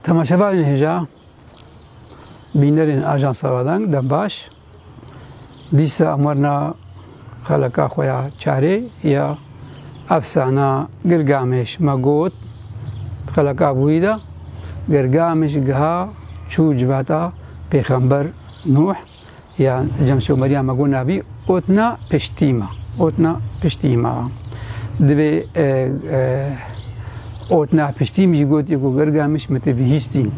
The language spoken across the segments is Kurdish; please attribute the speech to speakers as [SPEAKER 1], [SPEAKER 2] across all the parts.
[SPEAKER 1] Temaşevanên hêja bînerên Ajansa Radang dembaş dîsa amarna xeleka xwe ya çarê ya efsana Gilgameş me got xeleka bûyî de Gilgameş giha çû civata pêxember Nuh ya Cemşewmeriya me got navî otna piştîma. Otna piştîma. Divê e, e, otna piştîm jî got ku girga min ji min tê bihîstîn.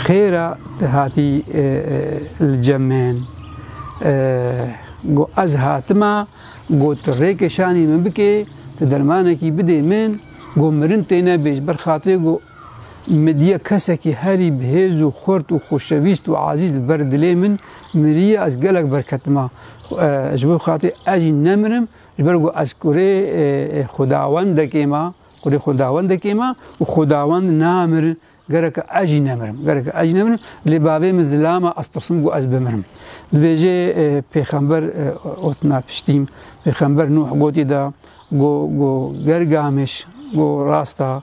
[SPEAKER 1] Xêra tu hatî e, li cem min. Got ez hatima, got tu rêkê şanî min bikê, tu dermanekî bidê min, got mirin têne bêj, ber xatirê got Midye kesekî herî bi hêz û xurt û xoşewîst û ezîz li ber dilê min miriye, ez gelek berketim a. Ji bo xatirê ez jî nemirim, ji ber ku ez kurê xwedawendekê me, kurê xwedawendekê me û xwedawend namir, gerek e ez jî nemirim, gerek e ez jî nemirim, lê bavê min zilama ez tirsim ku ez bimirim. Dibêje pêxember otina piştî min, pêxember Nuh gotî da, got, got, ger gamiş, got, rasta.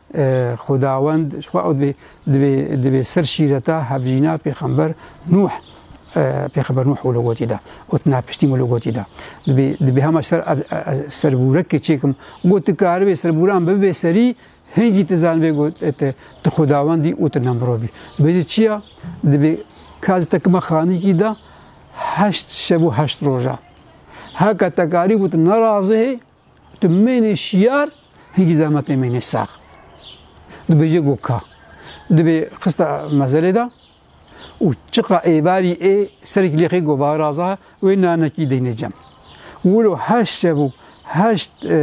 [SPEAKER 1] Xwedawend ji xwe ew dibê dibê dibê ser şîreta hevjîna pêxember Nuh pêxember Nuh û logotî da û tu napiştî min logotî da dibê dibê hema ser ser bûrekê çêkim got tu karibê ser bûran bibê serî hingî tu zanibê got tu xwedawendî û tu ne mirovî bêjî çiya dibê kaz te kima xanîkî da heşt şev û heşt roja heka te karî got nerazihê Tu mênê şiyar hingî zehmetê mênê sax. Dibêje got ka. Dibê xista mezelê de û çiqa êbarî ê serek lêxê got va raza wê nanekî deynê cem. Wilo heşt şev û heşt e, e,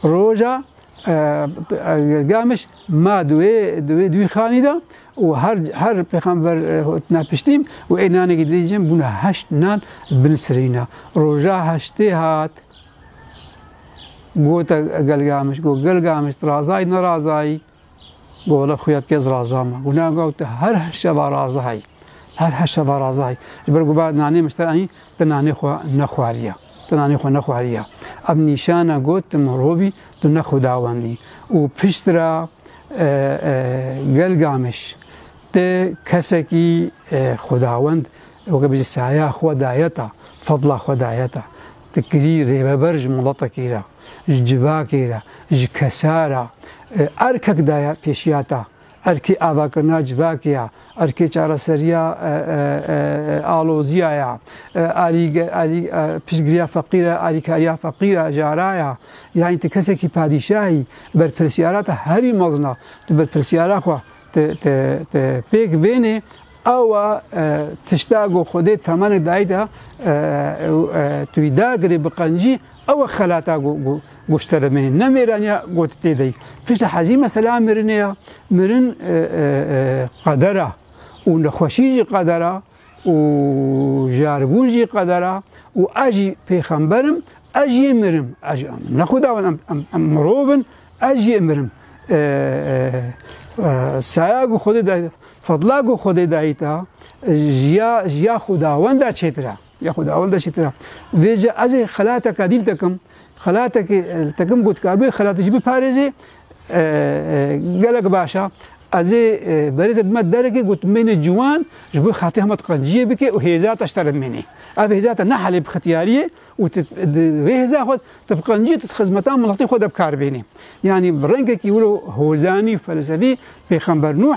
[SPEAKER 1] e, roja e, e, Gilgameş ma di wê di wê dûîxanî de û her her pêxember hotine piştîm û ê nanekî didî jin bûne heşt nan binisirîna. Roja heştê hat gote Gelgamiş got Gelgamiş razayî ne razayî got wela xuya dike ez raza me. Got ne got her şeva razayî her her şeva razayî ji ber gova nanê min te anî te nanê xwe nexwariye te nanê xwe nexwariye. Ev nîşana got tu mirovî tu ne xwedawendî û piştre Gelgamiş tê kesekî xwedawend weke bijî saya xwe daye ta, fedla xwe daye ta. Ti kirî rêveber ji miletekî re, ji civakê re, ji kesa re, erkek daye pêşiya ta. Erkê avakirina civakê ya, Erkê çareseriya aloziya ya, piştgiriya feqîr e, alîkariya feqîr e, jara ya. Yanî ti kesekî padîşahî berpirsyara te herî mezin e. Tu berpirsyara xwe te pêk bênê ewa tişta ku Xwedê temenê dayî te tu wî dagirê bi qencî Ew e xelata ku ku ku ji te re mînê. Ne mêraniya got tê de yî. Piştî hezî mesela mirinê ya. Mirin qeder a û nexweşî jî qeder a û jiyarbûn jî qeder a û ez jî pêxember im, ez jî ê mirim. Ez jî ne xuda min em em em mirov in, ez jî ê mirim. Saya ku Xwedê dayî, fedla ku Xwedê dayî te jiya jiya xudawenda çêtir e. Ya xweda ewil de şitira. Vê jî ez ê xelateka dîl tekim. Xelatekî tekim ku dikar bê xelatê jî biparêzê gelek baş e. Ez ê berê te bime derekê ku tu mênê ciwan ji bo xetê hema qenciyê bike û hêza te ji te re bimênê. Ev hêza te ne helê bi xetiyariyê û tu di vê hêza xwe tu bi qenciyê tu di xizmeta miletê xwe de bikar bênê. Yanî bi rengekî wilo hozanî û felsefî pêxember Nuh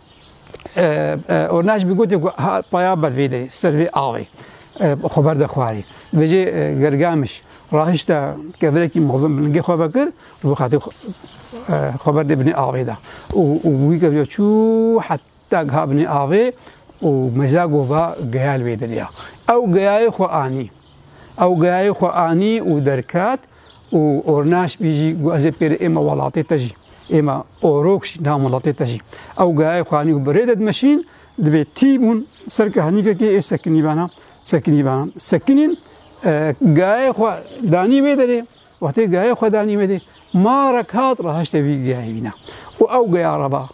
[SPEAKER 1] Ornaş bi gotê ku ha paya ber vê derê ser vê awê xwe berde xwarî. Vê jê Gergamiş rahişte kevirekî mezin bi lingê xwe vekir û bi xetê xwe berdê binê avê de. û wî kevya çû heta giha binê avê û mejda gova geyal wê derê ya. Ew geyayê xwe anî. Ew geyayê xwe anî û derket û ornaş bî jî got ez ê pêrê êma welatê te jî. Êma orok jî nam welatê te jî. Ew geyayê xwe anî û birê de dimeşîn, dibê tî bûn ser kehnîkekê ê sekinî bena, sekinî bena. Sekinîn geyayê xwe danî wê derê, wextê geyayê xwe danî wê dê, marek hat rahişte wî geyayê wîna. Û ew geya re ba.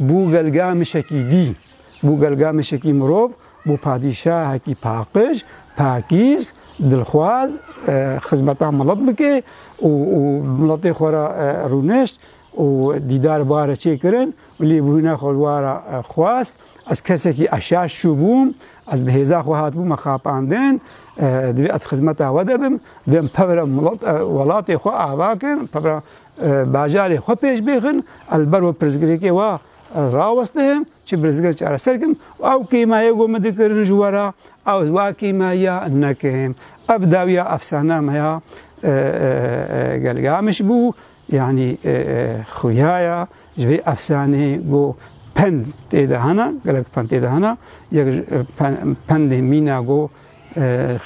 [SPEAKER 1] Bû Gelgamişekî dî. Bû Gelgamişekî mirov, bû padîşahekî paqij, pakîz, dilxwaz, xizmeta milet bike û miletê xwe re rûnişt û dîdar bare çêkirin û lêbûna xwe wara xwest. Ez kesekî eşaş çûbûm, ez bi hêza xwe hatibûme xapandin, divê ez xizmeta we de bim, divê em pevra milet welatê xwe ava kin, pevra Bajarê xwe pêş bêxin, ez ber wê pirsgirêkê we rawestihim, çi pirsgir çareser kim û ew kêma ye ku min dikirin ji we re ez wa kêmaya nekim. Ev dawiya efsane me ya Gelgamiş bû, yanî xuya ya ji vê efsaneyê ku pend tê de hene, gelek pend tê de hene, yek ji pendên mîna ku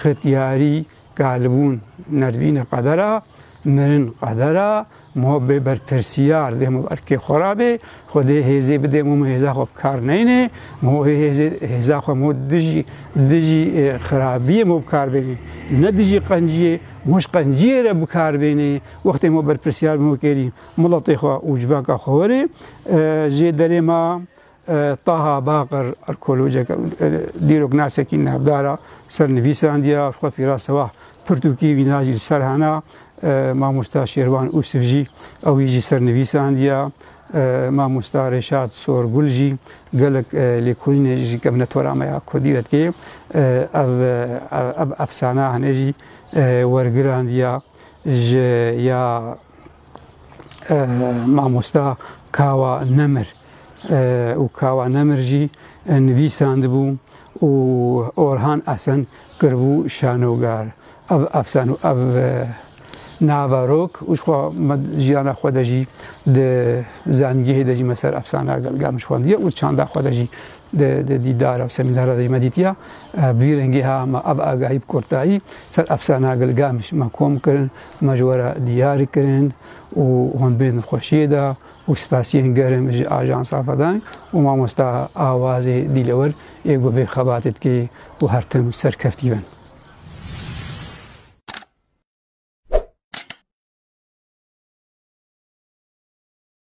[SPEAKER 1] xetyarî, Galibûn nervîne qeder a, mirin qeder a, ma bê berpirsiyar dê ma erkê xwe ra bê, xwe dê hêzê bidê ma hêza xwe bi kar neyne, ma wê hêzê hêza xwe ma dijî dijî e, xirabiyê ma bi kar bêne, ne dijî qenciyê, ma ji qenciyê re bi kar bêne, wextê ma berpirsiyar bê ma kêrî miletê xwe û civaka xwe werê e, jê derê ma Taha Baqir arkeolojek dîrok nasekî navdara ser nivîsandiya xwe fîra sewah pirtûkî vîna jî ser hena mamosta Şêrvan Ûsif jî ewî jî ser nivîsandiya mamosta Rêşat Sorgul jî gelek lêkolînê jî kevne tora me ya ku dîret kê ev ev efsana hene jî wergirandiya ji ya mamosta kawa nemir û Kawa Nemir jî nivîsandibû û Orhan Esen kiribû şanogar. Ev efsan û ev nava rok û jixwe me jiyana xwe de jî di zanîngehê de jî me ser efsana gelga min xwendiye û çanda xwe de jî di dîdara û semînara de jî me dîtiya bi vî rengê ha me ev agahî bi kurtayî ser efsana gelga min me kom kirin me ji we re diyar kirin û hûn bên xweşiyê de û spasiyên germ ji Ajansa Fedan û mamosta Awazê Dîlewir ê ku vê xebatê dike û her tim serkeftî bin.